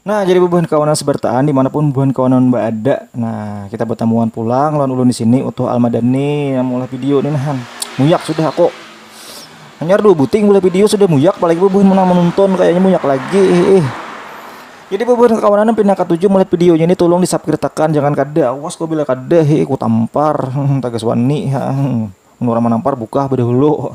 Nah, jadi bubuhan kawanan sebertaan dimanapun bubuhan kawanan berada. Nah, kita bertemuan pulang lawan ulun di sini Utuh Almadani yang mulai video ini nah. Muyak sudah aku. Hanya dua buting mulai video sudah muyak, apalagi bubuhan menang menonton kayaknya muyak lagi. Eh, eh. Jadi bubuhan kawanan pindah ketujuh mulai videonya ini tolong disubscribekan jangan kada awas kau bila kada he ku tampar tagas wani menurut menampar buka berdahulu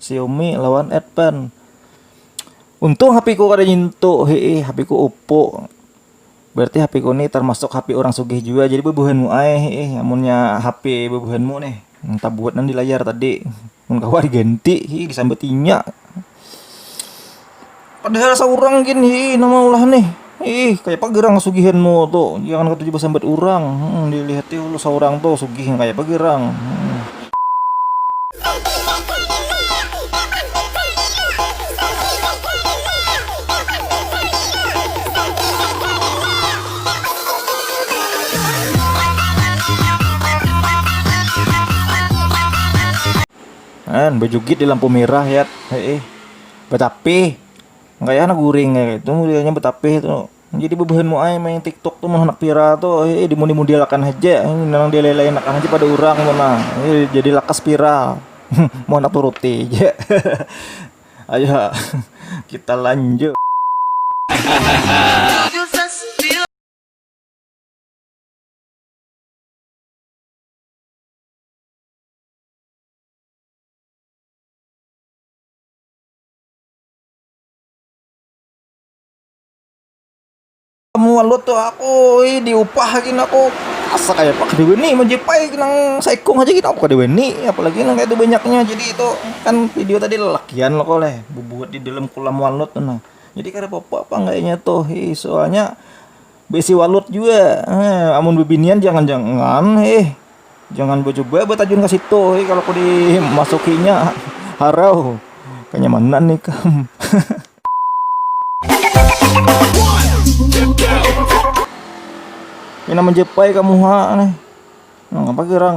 Xiaomi lawan Advan. Untung HP ku kada nyentuh, hei HP ku Oppo. Berarti HP ku ni termasuk HP orang sugih juga. Jadi bebuhanmu ai, hei amunnya HP bebuhanmu nih. Entah buat nang di layar tadi. Mun kawa diganti, hei disambat inya. padahal saurang gin hi nama ulah nih ih kaya apa gerang kasugihanmu tu jangan katuju basambat urang hmm, dilihati ulu saurang tu sugih kaya apa gerang hmm. An, bejugit di lampu merah ya. Heeh. Batapih. Kaya handak guring kaya itu modelnya batapih tu. Jadi bebuhan mu ai main tiktok tu mun handak viral tu eh dimodel-model akan haja nang dilailain akan haja pada urang tu nah. Eh, jadi lakas viral. mun handak turuti ja. Ayo kita lanjut. Mualut tuh aku, ih diupah gini aku asa kayak apa kedewe nih menjepai nang saikung aja kita apa kedewe nih apalagi nang kayak itu banyaknya jadi itu kan video tadi lelakian lo koleh bubuat di dalam kolam mualut tuh nah jadi kada apa-apa apa enggaknya tuh ih soalnya Besi walut juga. Eh, amun bebinian jangan-jangan eh jangan becoba betajun ke situ eh kalau aku dimasukinya harau kenyamanan nih kam. Ini nama jepai kamu ha nih. Nang apa gerang?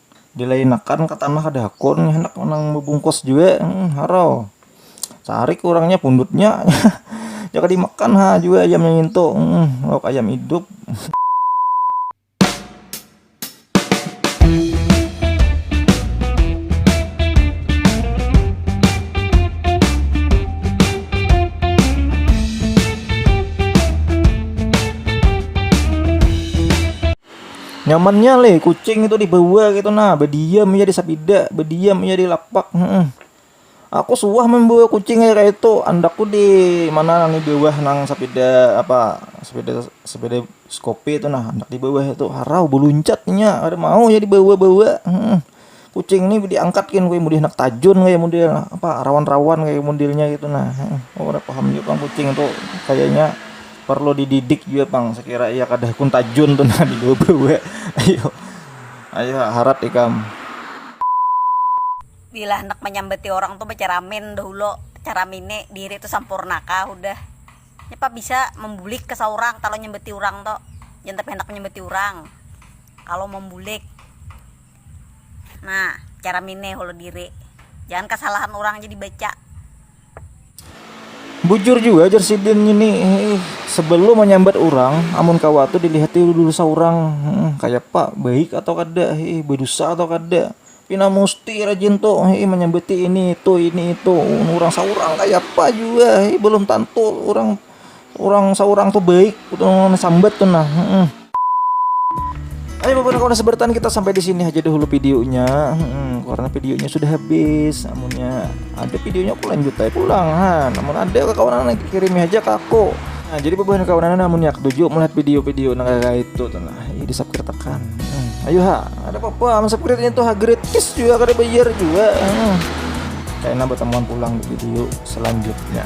dilainakan ka tanah kada hakun handak nang bebungkus jua harau sarik urangnya pundutnya jaka dimakan ha jua ayamnya ngintu lauk ayam hidup nyamannya leh kucing itu dibawa gitu nah bediam ya di sapida bediam ya di lapak hmm. aku suah membawa kucing kayak itu andakku di mana nang di bawah nang sapida apa sapida sapida skopi itu nah andak di bawah itu harau beluncat nya ada mau ya dibawa bawa hmm. kucing ni diangkat kin gue mudih nak tajun gue mudih apa rawan-rawan gue mudilnya gitu nah oh udah paham juga pang kucing tuh kayaknya perlu dididik juga pang sekira iya kada kun tajun tuh nah di gue ayo ayo harat ikam bila handak manyambati orang tuh bacaramin dahulu caramini diri tuh sampurna kah hudah nya pa bisa mambulik ke saurang kalo nyambati urang tuh jangan tapi handak manyambati urang kalo mambulik. Nah cara mine hulu diri. Jangan kasalahan urang aja dibaca. Bujur jua jar sidin ngini eh, sebelum menyambat urang amun kawa tu dilihat dulu saurang hmm, kaya pa baik atau kada eh, badusa atau kada pina musti rajin tu eh, menyambati ini itu ini itu urang saurang kaya pa jua eh, belum tantu urang orang seorang tuh baik orang sambat tuh nah hmm. Ayo bapak kawan sebertan kita sampai di sini aja dulu videonya hmm, karena videonya sudah habis namunnya ada videonya aku lanjut aja pulang ha namun ada kawan lagi kirim aja ke aku nah jadi bapak kawan namun ya ketujuh melihat video-video nah kayak itu tuh nah ini di subscribe tekan hmm. ayo ha ada apa-apa subscribe itu ha gratis juga kada bayar juga hmm. kayak nambah temuan pulang di video selanjutnya